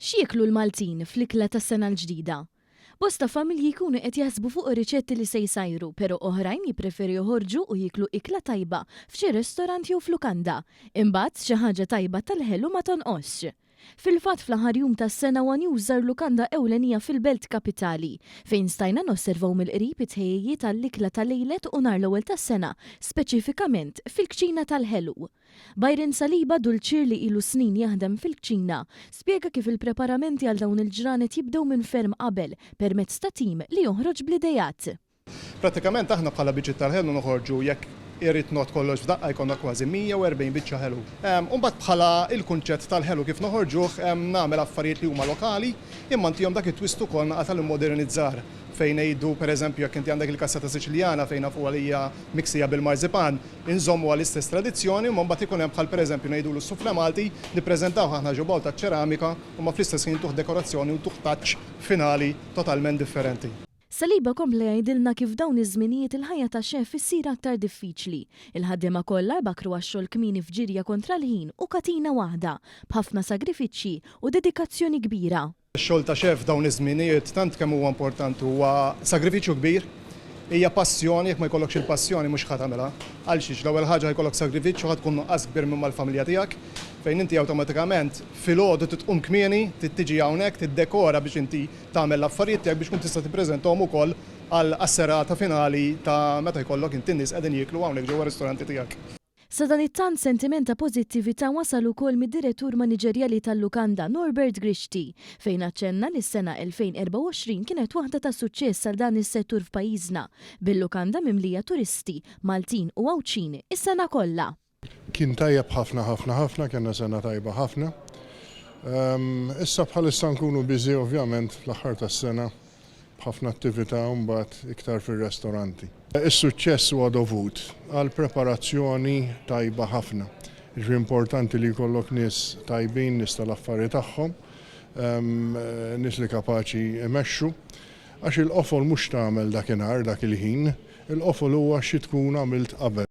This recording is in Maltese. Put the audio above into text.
X'jieklu l-Maltin fl-ikla tas-Sena l-Ġdida? Bosta familji jkunu qed jaħsbu fuq ir-riċetti li se jsajru, pero' oħrajn jippreferu joħorġu u jieklu ikla tajba f'xi restorant jew f'lukanda. Imbagħad, xi ħaġa tajba tal-ħelu ma tonqosx. Fil-fatt, fl-aħħar jum tas-sena huwa News żar lukanda ewlenija fil-Belt Kapitali, fejn stajna nosservaw mill-qrib it-tħejjijiet għall-ikla ta' lejlet u nhar l-ewwel tas-sena, speċifikament fil-kċina tal-ħelu. Byron Saliba, dulċier li ilu snin jaħdem fil-kċina, spjega kif il-preparamenti għal dawn il-ġranet jibdew minn ferm qabel permezz ta' tim li joħroġ bl-ideat. Prattikament aħna bħala biċċiet tal-ħelu noħorġu jekk irid ngħodd kollox f'daqqa jkollna kważi 140 biċċa ħelu. U mbagħad bħala l-kunċett tal-ħelu kif noħorġuh nagħmel affarijiet li huma lokali imma ntihom dak it-twist ukoll naqa' tal-immodernizzar. fejn ngħidu pereżempju jekk inti għandek il-cassata Siċiljana fejn nafuha li hija miksija bil-marzipan, inżommuha l-istess tradizzjoni, imma mbagħad ikun hemm bħal pereżempju ngħidulu s-soufflé Malti, nippreżentawh aħna ġo bowl taċ-ċeramika, imma fl-istess ħin intuh dekorazzjoni u ntuh touch finali totalment differenti. Saliba kompla jgħidilna kif f'dawn iż-żminijiet il-ħajja ta' chef issir aktar diffiċli. Il-ħaddiema kollha jbakkru għax-xogħol kmieni f'ġirja kontra l-ħin u katina waħda, b'ħafna sagrifiċċji u dedikazzjoni kbira. Ix-xogħol ta' xef f'dawn iż-żmienijiet tant kemm huwa importanti huwa sagrifiċċju kbir, hija passjoni, jekk ma jkollokx il-passjoni mhux ħa tagħmilha. Għalxiex? L-ewwel ħaġa ħa jkollok sagrifiċċju, ħa tkun nuqqas kbir minn mal-familja tiegħek fejn inti awtomatikament filgħodu trid tqum kmieni, trid tiġi hawnhekk, tiddekora biex inti tagħmel l-affarijiet tiegħek biex tkun tista' tippreżentahom ukoll għall-għas-serata finali ta' meta jkollok inti n-nies qegħdin jieklu hawnhekk ġewwa r-ristoranti tiegħek. Sadanittant sentiment ta' pożittività wasal ukoll mid-Direttur Maniġerjali tal-Lukanda, Norbert Grixti, fejn aċċenna li s-sena 2024 kienet waħda ta' suċċess għal dan is-settur f'pajjiżna, bil-lukanda mimlija turisti, Maltin u Għawdxin, is-sena kollha. Kien tajjeb ħafna ħafna ħafna, kellna sena tajba ħafna. Issa bħalissa nkunu busy ovvjament fl-aħħar tas-sena. b'ħafna attività mbagħad iktar fir-restoranti. Is-suċċess huwa dovut għal preparazzjoni tajba ħafna. Jiġifieri importanti li jkollok nies tajbin, nies tal-affari tagħhom, nies li kapaċi jmexxu. Għax il-qofol mhux x'tagħmel dakinhar, dak il-ħin, il-qofol huwa xi tkun għamilt qabel.